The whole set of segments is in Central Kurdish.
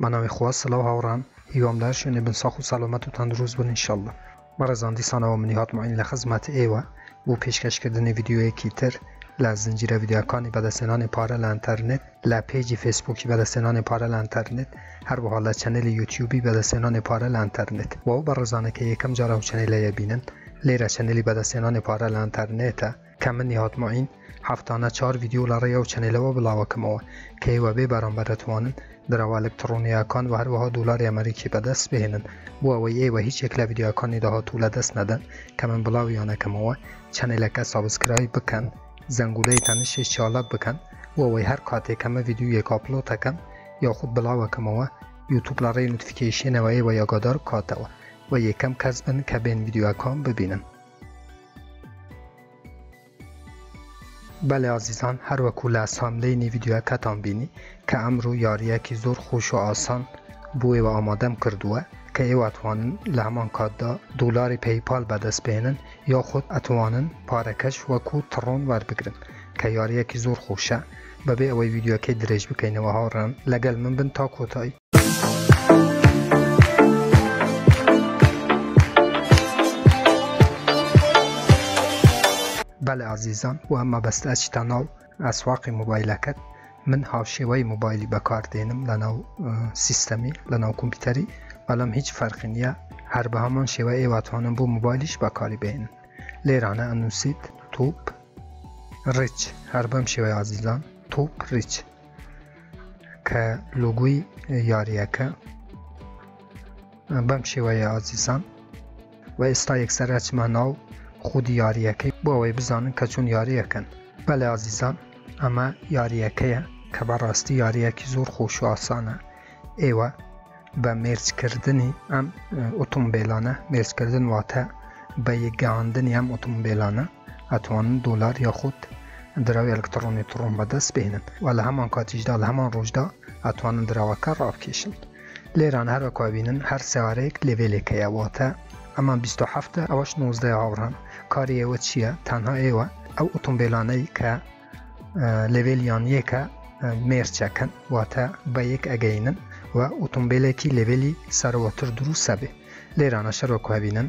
بەناوی خوا سلاو هاوڕان هیوام لەهەر شوێنێ بن ساخ و سەلامەت و تەندروست بن ان شاءاللە. بەڕێزان دیسانەوە منی هاتمەین لە خزمەت ئێوە بۆ پێشکەش کردنی ڤیدیۆیەکی تر لە زنجیرە ڤیدیۆکانی بەدەستهێنانی پارە لە ئەنتەرنێت لە پێجی فێسبووکی بەدەستهێنانی پارە لە ئەنتەرنێت هەروەها لە چەنێلی یوتیوبی بەدەستهێنانی پارە لە ئەنتەرنێت بۆ ئەو بەڕێزانە کە یەکەم جار ئەو چەنێلەیە بینن لێرە چەنێلی بەدەستهێنانی پارە لە ئەنتەرنێتە کە من نیهاد موعین هەفتانە چوار ڤیدیۆ لە ڕێی ئەو چەنێلەوە بڵاوەکەمەوە کە ئێوە بێ بەرامبەر دەتوانن دراوە ئەلکتڕۆنییەکان و هەروەها دۆلاری ئەمەریکی بەدەست بهێنن بۆ ئەوەی ئێوە هیچ یەک لە ڤیدیۆکانی داهاتوو لەدەست نەدەن کە من بڵاویانەکەمەوە چەنێلەکە سابسکرایب بکەن زەنگولەی تەنشی چاڵک بکەن بۆ ئەوەی هەر کاتێک کە من ڤیدیۆیەک ئاپلۆتەکەم یاخود بڵاوەکەمەوە یوتوب لە ڕێی نوتفیکەیشنەوە ئێوە یاگادار بکاتەوە و یەکەم کەس بن کە بێن ڤیدیۆکان ببینن بەلی ئازیزان هەروەکو لە ساملەینی ڤیدیۆیەکەتان بینی کە ئەمرو یاریەکی زۆر خۆش و ئاسان بۆ ئێوە ئامادەم کردووە کە ئێوە ئەتوانن لە هەمان کاتدا دۆلاری پەیپال بەدەست بهێنن یاخود ئەتوانن پارەکەش وەکو تڕۆن وەربگرن کە یاریەکی زۆر خۆشە بەبێ ئەوەی ڤیدیۆکەی درێژ بکەینەوە هاوڕێیان لەگەل من بن تا کۆتایی. بەلێ ئازیزان و مەبەستە چیتاناو ئەسواقی مۆبایلەکەت من هاوشێوەی مۆبایلی بەکاردێنم لەناو سیستەمی لەناو کۆمپیوتەری بەڵام هیچ فەرقی نییە هەر بە هەمان شێوە ئێواتوانم بۆ مۆبایلیش بەکاری بێنن لێرانە ئەنووسیت توپ ڕچ هەر بەم شێوەی ئازیزان توپ ڕچ کە لوگوی یاریەکە بەم شێوەیە ئازیسان و ئێستا یەکسەر ئەچمە ناو خودی یاریەکەی بۆ ئەوەی بزانن کە چون یاریەکەن بەلێ ئازیزان ئەمە یاریەکەیە کە بەڕاستی یاریەکی زۆر خۆش و ئاسانە ئێوە بە مێرجکردنی ئەم ئۆتۆمبیلانە مێرجکردن واتە بە یەکگەاندنی ئەم ئۆتۆمبیلانە ئەتوانن دۆلار یاخود دراوی ئەلکتڕۆنی تڕۆن بەدەست بهێنن و لە هەمان کاتیشدا لە هەمان ڕۆژدا ئەتوانن دراوەکە ڕابکێشن لێران هەروەکوا بینن هەر سیارەیەک لێڤێلێک هەیە واتە ئەمان 27 ئەوەش 19 هاوڕان کاری ئێوە چییە تەنها ئێوە ئەو ئۆتۆمبیلانەی کە لێڤێلیان یەکە مێرچەکەن واتە بە یەک ئەگەینن و ئۆتۆمبیلێکی لێڤێلی سەرەوەتر دروستە بێ لێرانە شەرۆکوابینن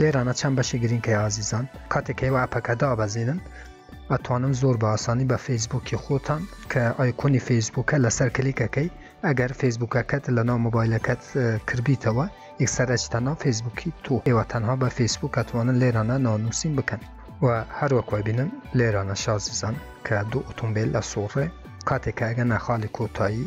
لێرانە چەند بەشی گرینگ هەیە ئازیزان کاتێک هەیە ئەپەکە دابەزینن ئەتوانن زۆر بە ئاسانی بە فەیسبوکی خۆتان کە ئایکۆنی فەیسبوکە لەسەر کلیکەکەی ئەگەر فەیسبوکەکەت لە ناو مۆبایلەکەت کردبیتەوە یەکسەرەجتە ناو فەیسبوکی تۆ ئێوە تەنها بە فەیسبوک ئەتوانن لێرانە ناونووسین بکەن و هەروەک وبینن لێرانە شازیزان کە دوو ئۆتۆمبیل لە سوڕێ کاتێکە ئەگەنە خاڵی کۆتایی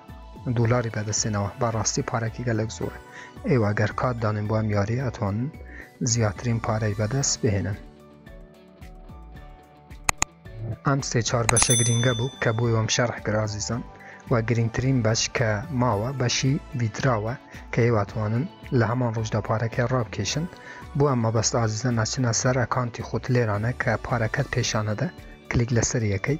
دۆلاری بەدەستێنەوە با ڕاستی پارەکی گەلک زۆر ئێوە گەر کات دانێن بۆ ئەم یاری ئەتوان زیاترین پارەی بەدەست بهێنن ئەم سێ چار بەشە گرنگە بوو کە بۆی وەم شەرح گرازیزان و گرنگترین بەش کە ماوە بەشی ویتراوە کە هێواتوانن لە هەمان ڕۆژدا پارەکە ڕابکێشن بۆ ئەم مەبەست ئازیزە ناچنە سەر ئەکانتی خۆت لێرانە کە پارەکەت پێشانەدە کلیک لەسەر یەکەی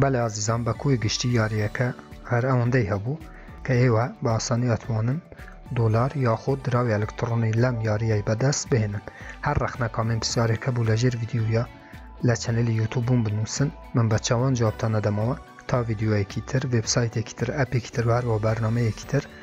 بەلێ ئازیزان بە کۆی گشتی یاریەکە هەر ئەوەندەی هەبوو کە ئێوە بە ئاسانی ئەتوانن دۆلار یاخود دراوی ئەلکتڕۆنی لەم یاریەی بەدەست بهێنن هەر ڕەخنە کامێن پرسیارێک هەبوو لە ژێر ڤیددیویە لە چەنەلی یوتوب بووم بنووسن من بە چاوان جوابتان نەدەمەوە تا ڤیددیوەیەکی تر وبسایتێکی تر ئەپێکی تر هەروە بەرنمەیەکی تر